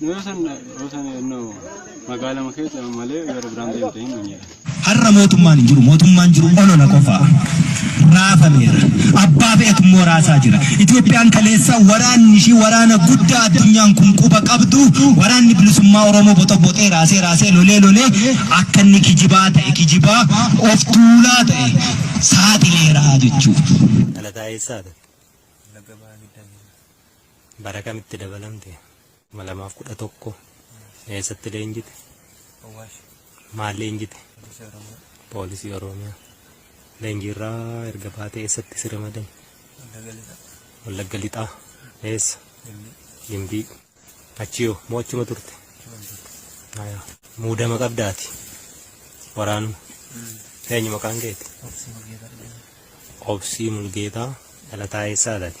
Yoo san yoo san no magaalama keessa malee gara biraan deemte hin manjira. Har'a mootummaan hin jiru. Mootummaan jiru olola qofa. Raafameera. Abbaa fe'etu immoo raasaa jira. Itoophiyaan kaleessa waraanni ishii waraana guddaa addunyaan kun quba qabdu waraanni bilisummaa Oromoo boxoboxee raasee raasee lolee lolee akka inni kijibaa ta'e kijibaa of tuulaa ta'e saaxileera jechuudha. Dhalataa eessaadha? Wallagga Bahaa Giddaa Giddaa. Bara kamitti dabalamte? 2011. Eessatti leenjite? Awwaash. Maal leenjite? Poolisii Oromiyaa. Poolisii Oromiyaa. Leenjiirraa erga baatee eessatti si ramadan? Wallagga Lixaa. Wallagga Lixaa. Eessa? Gimbii. Gimbii. Achiyoo moo achuma turte? Achumaan turte. Haya. Muudama qabdaati. Waraanuma. Eenyu maqaan keeti? Obsii Mulgeetaa. Obsii Mulgeetaa. Dhalataa eessaadhaati?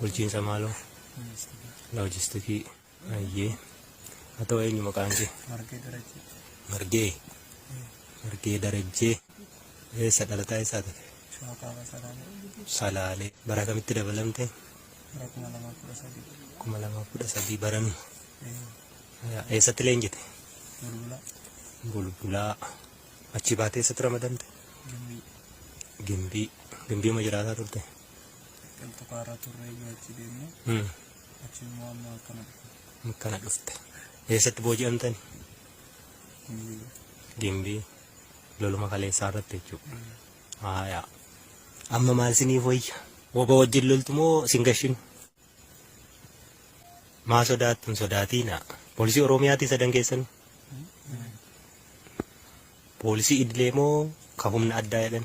bulchiinsa maaloo loojistikii ayyee haa ta'u eenyu maqaan kee margee darajjee margee margee darajjee eessa dhalataa eessaa ta'e shawaa kaabaa salaamee salaalee bara kamitti dabalamte bara kuma lamaa kudha sadii kuma lamaa kudha sadii baranu eessatti leenjite bulbulaa bulbulaa achi baatee eessatti ramadamte gimbii gimbii gimbiima jiraataa turte Kan tukaarra turre eeyyuu achi deemne Hmm. achi immoo amma akkana dhufe. Kana dhufte. Eessatti booji'amtan? Gimbii. Gimbii. Loluma kaleessaa irratti jechuudha. Haayaa. Amma maal siniif wayya? Woba wajjin loltu moo sin gashinu? Maa sodaattu hin sodaatiina. Poolisii Oromiyaatii sadan keessan. Poolisii idilee moo ka humna addaa jedhan?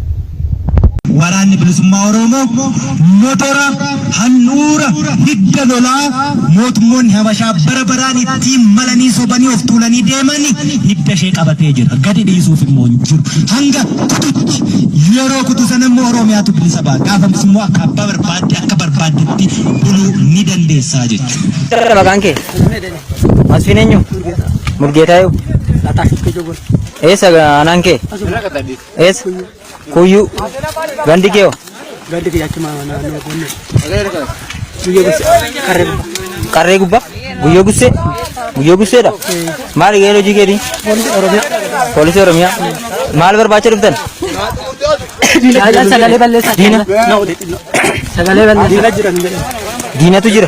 Waraanni Bilisummaa Oromoo motora, handhuura, hidda lolaa mootummoonni Habashaa bara baraan ittiin malanii sobanii of tuulanii deeman hidda ishee qabatee jira. Gadi dhiisuuf immoo hin jiru. Hanga kututti yeroo kutu sana immoo Oromiyaatu bilisa ba'a. Gaafas immoo akka abbaa barbaadde akka barbaaddetti buluu ni dandeessaa jechuudha. Maqaan kee? Masfiin eenyu? Mulgeetaayu? Eessa aanaan kee? Eessa? Kuyyuu. Gandi kee hoo? Gandi kee achuma naannoo Gonnee. Guyyoo Gussee. Qarree gubbaa. Qarree gubbaa? Guyyoo Gussee? Guyyoo Gusseedha? Maali gaheen hojii keetii? Poolisii Oromiyaa. Poolisii Oromiyaa? Maal barbaacha dhuftan? Sagalee balleessaa. Diina. Sagalee balleessaa. Diina jira. Diinatu jira.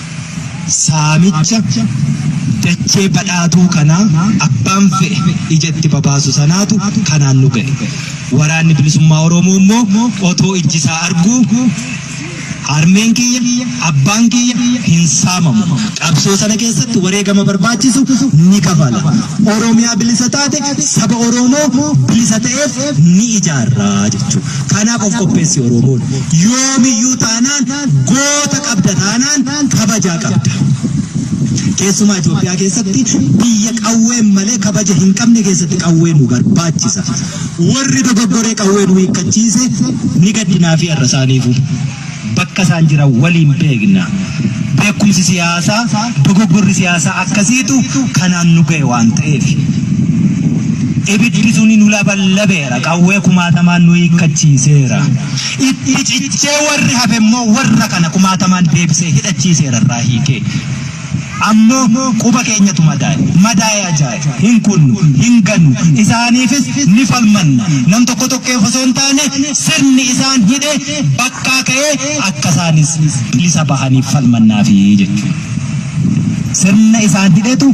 Saamicha dachee badhaatuu kanaa abbaan fe'e ija itti babaasu sanaatu kanaan nu ga'e. Waraanni Bilisummaa Oromoo immoo otoo ijji isaa arguu harmeen kiyya, abbaan kiyya hin saamamu. Qabsoo sana keessatti wareegama barbaachisu ni kafala. Oromiyaa bilisa taate saba Oromoo bilisa ta'eef ni ijaarra jechuudha. Kanaaf of qopheessi Oromoon. Yoomiyyuu taanaan goota qabda taanaan kabajaa qabda. Keessumaa Itoophiyaa keessatti biyya qawween malee kabaja hin qabne keessatti qawwee nu barbaachisa. Warri dogoggoree qawwee nu hiikkachiise ni gaddinaa fi har'a isaaniifu. Bakka isaan jiran waliin beekna. Beekumsi siyaasaa, dogoggorri siyaasaa akkasiitu kanaan nu ga'e waan ta'eef. Ibiddi suni nu laballabeera, qawwee kumaatamaan nu hiikkachiiseera. Itti cichee warri hafe immoo warra kana kumaatamaan deebisee hidhachiiseera irraa hiikee. Ammoo quba keenyatu madaaye. Madaaye ajaaye. Hin kunnu, hin gannu. Isaaniifis ni falmanna. Nam tokko tokkeef osoo hin taane sirni isaan hidhe bakkaa ka'ee akka isaanis bilisa bahaniif falmannaafi jechuudha. Sirna isaan hidhetu